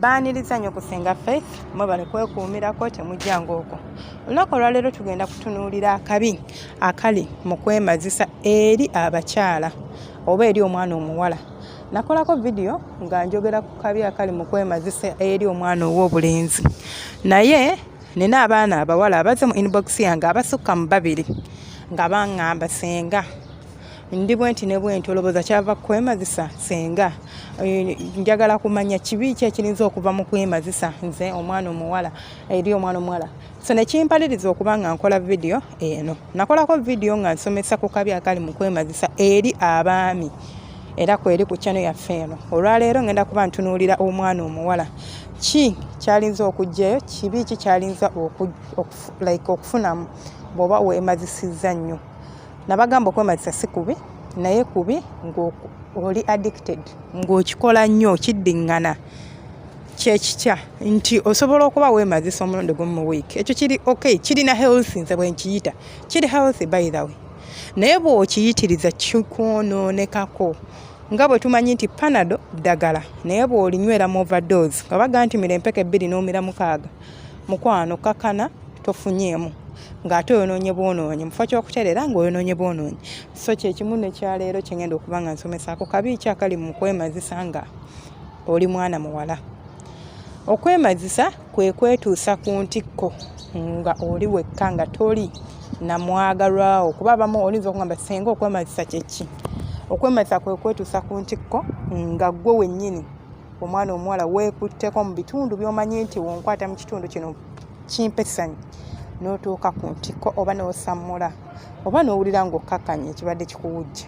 baaniriza nnyo kusinga faith mwebale kwekuumirako temujjanga okwo olunaku olwaleero tugenda kutunuulira akabi akali mu kwemazisa eri abakyala oba eri omwana omuwala nakolako vidiyo nga njogera ku kabi akali mu kwemazisa eri omwana ow'obulenzi naye nina abaana abawala abaze mu inbox yange abasukka mu babiri nga baŋŋamba senga ndi bwe nti ne bwe nti olowooza kyava kukwemazisa senga eh, njagala kumanya kibi ki ekirinza okuva mu kwemazisa nze omwana omuwala eri omwana omuwala so nekimpaliriza okuba nga nkola vidiyo eno nakolako vidiyo nga nsomesa ku kabi akali mu kwemazisa eri abaami era kweri ku kyano yaffe eno olwaleero ngenda kuba ntunuulira omwana omuwala ki kyalinza okugjayo kibi ki kyalinza like okufunamu bwoba wemazisizza nnyo nabagamba okwemazisa si kubi naye kubi ngaoli addicted ngaokikola nnyo kiddingana kyekitya nti osobola okuba wemazisa omulundi gumu mu week ekyo kiri ok kirina health nze bwenkiyita kiri health by the way naye bwokiyitiriza kikwonoonekako nga bwe tumanyi nti panado ddagala naye bw'olinywera mu overdoos nga baga nti mira empeke ebbiri n'omira mukaaga mukwano kakana tofunyeemu ng'ate oyonoonye bwonoonyi mufo kyokutereera ng'oyonoonye bwonoonyi so kyekimu nekyaleero kyengenda okuba nga nsomesaako kabi ki akali mu kwemazisa nga oli mwana muwala okwemazisa kwe kwetuusa ku ntikko nga oli wekka nga toli namwagalwawo kuba abamu oyinza okugamba senga okwemazisa kyeki okwemazisa kwe kwetuusa ku ntikko nga gwe wennyini omwana omuwala weekutteko mu bitundu byomanyi nti wonkwata mu kitundu kino kimpesanyi n'otuuka ku ntikko oba n'osammula oba n'owulira ng'okkakkanya ekibadde kikuwujja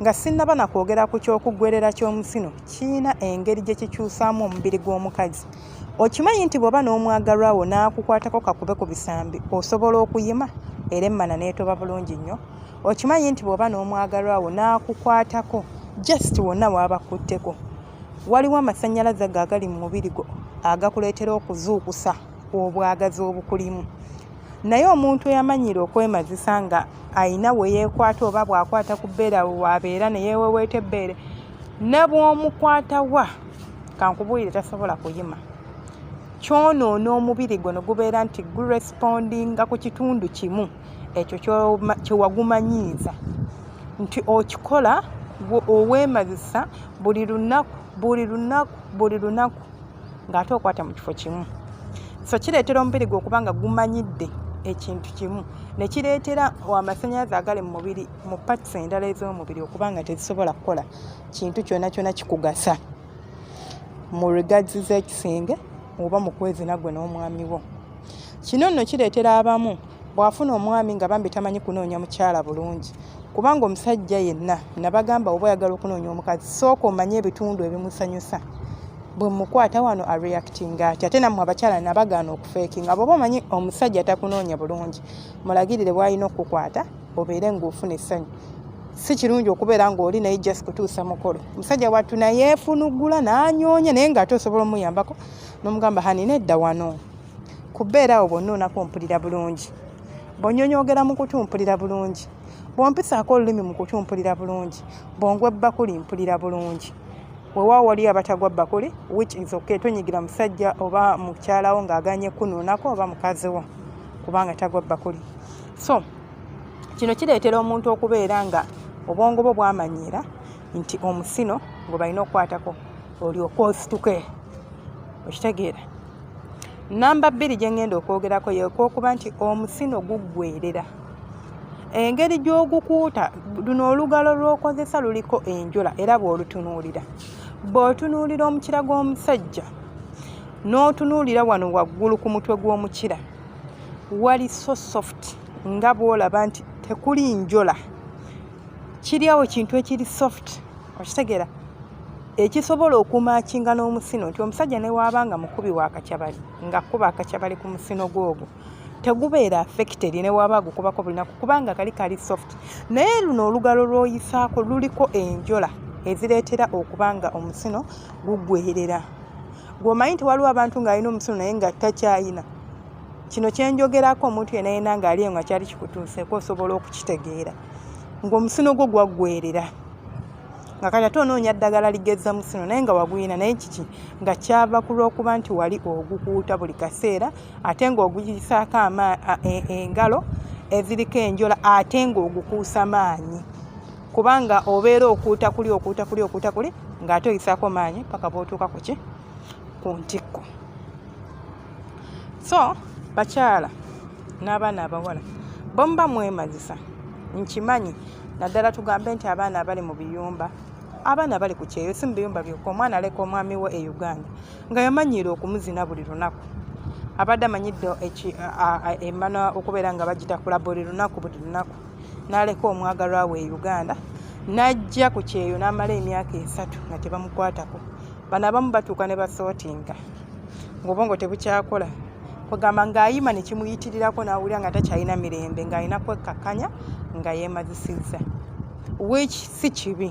Nga sinnaba na kwogera ku ky'okuggwerera ky'omusino, kirina engeri gye kikyusaamu omubiri gw'omukazi. Okimanyi nti bw'oba n'omwagalwa wo n'akukwatako kakube ku bisambi osobola okuyima era emmana n'etoba bulungi nnyo? Okimanyi nti bw'oba n'omwagalwa wo n'akukwatako just wonna w'abakutteko waliwo amasannyalaze ago agali mu mubiri gwo agakuleetera okuzuukusa obwagazi obukulimu? naye omuntu eyamanyiira okwemazisa nga ayina weyekwata oba bwakwata ku bbeera wabeera neyeweweeta ebbeere ne bwomukwata wa kankubuulire tasobola kuyima kyonoona omubiri gwo ne gubeera nti gurespondinga ku kitundu kimu ekyo kyewagumanyiiza nti okikola owemazisa buli lunaku buli lunaku buli lunaku ng'ate okwata mu kifo kimu so kireetera omubiri gwe okuba nga gumanyidde ekintu kimu ne kireetera amasannyalaze agali mu mubiri mu pats endala ez'omubiri okuba nga tezisobola kukola kintu kyona kyona kikugasa mu regards z'ekisenge oba mu kwezina gwe n'omwami wo kino nno kireetera abamu bw'afuna omwami nga bambi tamanyi kunoonya mukyala bulungi kubanga omusajja yenna nabagamba oba oyagala okunoonya omukazi sooka omanye ebitundu ebimusanyusa bwemukwata wano a reacting ati ate namwe abakyala nabagaana okufeekinga bwoba omanyi omusajja takunoonya bulungi mulagirire bwalina okukukwata obeere ngaofuna essanyu si kirungi okubeera ngaoli naye just kutuusa mukolo omusajja wattu nayeefunugula nanyoonya naye ngaate osobola omuyambako nomugamba hanina edda wano kubeera awo bonna onaku mpulira bulungi bonyonyogera mu kutu mpulira bulungi bwompisaako olulimi mu kutu mpulira bulungi bwongwa ebbakuli mpulira bulungi wewa wali abatagwa bakole which is okay tonyigira musajja oba mukyalawo ng'aganye kunuunako oba mukazi wo kubanga tagwa bakole so kino kireetera omuntu okubeera nga obwongo bwo bwamanyiira nti omusino gwe balina okukwatako olyoka osituke okitegeera namba bbiri gye ŋŋenda okwogerako yekwokuba nti omusino guggwerera engeri gy'ogukuuta luno olugalo lw'okozesa luliko enjola era bw'olutunuulira bw'otunuulira omukira gw'omusajja n'otunuulira wano waggulu ku mutwe gw'omukira wali so soft nga bw'olaba nti tekuli njola kiri awo kintu ekiri soft okitegeera ekisobola okumakinga n'omusino nti omusajja newaaba nga mukubi wa kakyabali ng'akkuba akakyabali ku musino gw'ogwo tegubeera affected ne waba agukubako bulinaku kubanga kali kali soft naye luno olugalo lwoyisaako luliko enjola ezireetera okuba nga omusino gugwerera gwomanyi nti waliwo abantu ng'alina omusino naye nga takyayina kino kyenjogerako omuntu yena yena ng'ali eyo nga kyali kikutuuseeko osobola okukitegeera ng'omusino gwo gwaggwerera nga kati ate onoonya ddagala ligezza musino naye nga waguyina naye kiki nga kyava ku lw'okuba nti wali ogukuuta buli kaseera ate ng'oguyisaako e, engalo eziriko enjola ate ng'ogukuusa maanyi kubanga obeera okuuta kuli okuuta kuli okuuta kuli ng'ate oyisaako maanyi paka bootuuka ku ki ku ntikko so bakyala n'abaana abawala bomuba mwemazisa nkimanyi naddala tugambe nti abaana abali mu biyumba abaana bali ku kyeyo si mu biyumba byokka omwana aleka omwami we e uganda nga yamanyiira okumuzina buli lunaku abadde amanyidde emana okubeera nga bagitakula buli lunaku buli lunaku n'aleka omwagalwa we e uganda n'ajja ku kyeyo n'amala emyaka esatu nga tebamukwatako bano abamu batuuka ne basootinga ngaobwongo tebukyakola kwegamba ng'ayima ne kimuyitirirako n'awulira nga takyalina mirembe ng'alina kwekkakkanya nga yeemazisizza wiki si kibi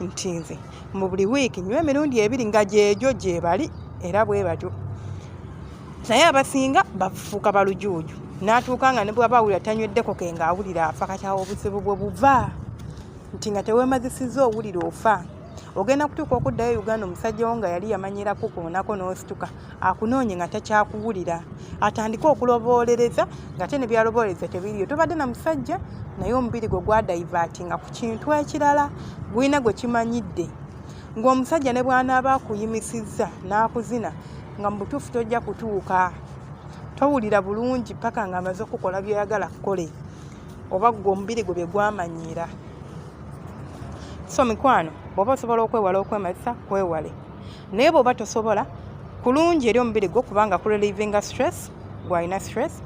nti nze mu buli wiiki nywa emirundi ebiri nga gyegyo gyebali era bwe batyo naye abasinga bafuuka balujuuju n'atuuka nga ne bwaba awulira tanyweddeko ke nga awulira afa kati awo obuzibu bwe buva nti nga tewemazisiza owulira ofa ogenda kutuuka okuddayo e uganda omusajja wo nga yali yamanyira kukuunako n'osituka akunoonye nga takyakuwulira atandike okuloboolereza nga te nebyaloboolereza tebiriyo tobadde na musajja naye omubiri gwe gwadaivatinga ku kintu ekirala gwina gwe kimanyidde ng'omusajja ne bwanaaba akuyimisizza n'akuzina nga mu butuufu tojja kutuuka towulira bulungi paka nga amaze okukola byoyagala kukole oba gwe omubiri gwe byegwamanyiira so mikwano bwoba osobola okwewala okwemazisa kwewale naye bwoba tosobola kulungi eri omubiri gwo kubanga ku relivinga stress gwalina stress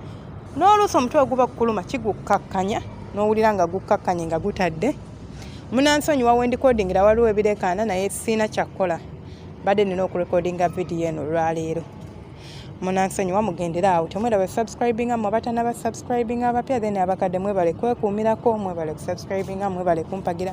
n'oluusi omutwe oguba kukuluma kigukkakkanya n'owulira nga gukkakkanye nga gutadde munansonyi wawendikodingira waliwo ebireekaana naye siina kyakukola badde nina okurekodinga vidiyo eno olwaleero munansonyi wamugendera awo temwera be subscribinga mwe abatana ba subscribinga abapya then abakadde mwebale kwekuumirako mwebale kusubscribinga mwebale kumpagira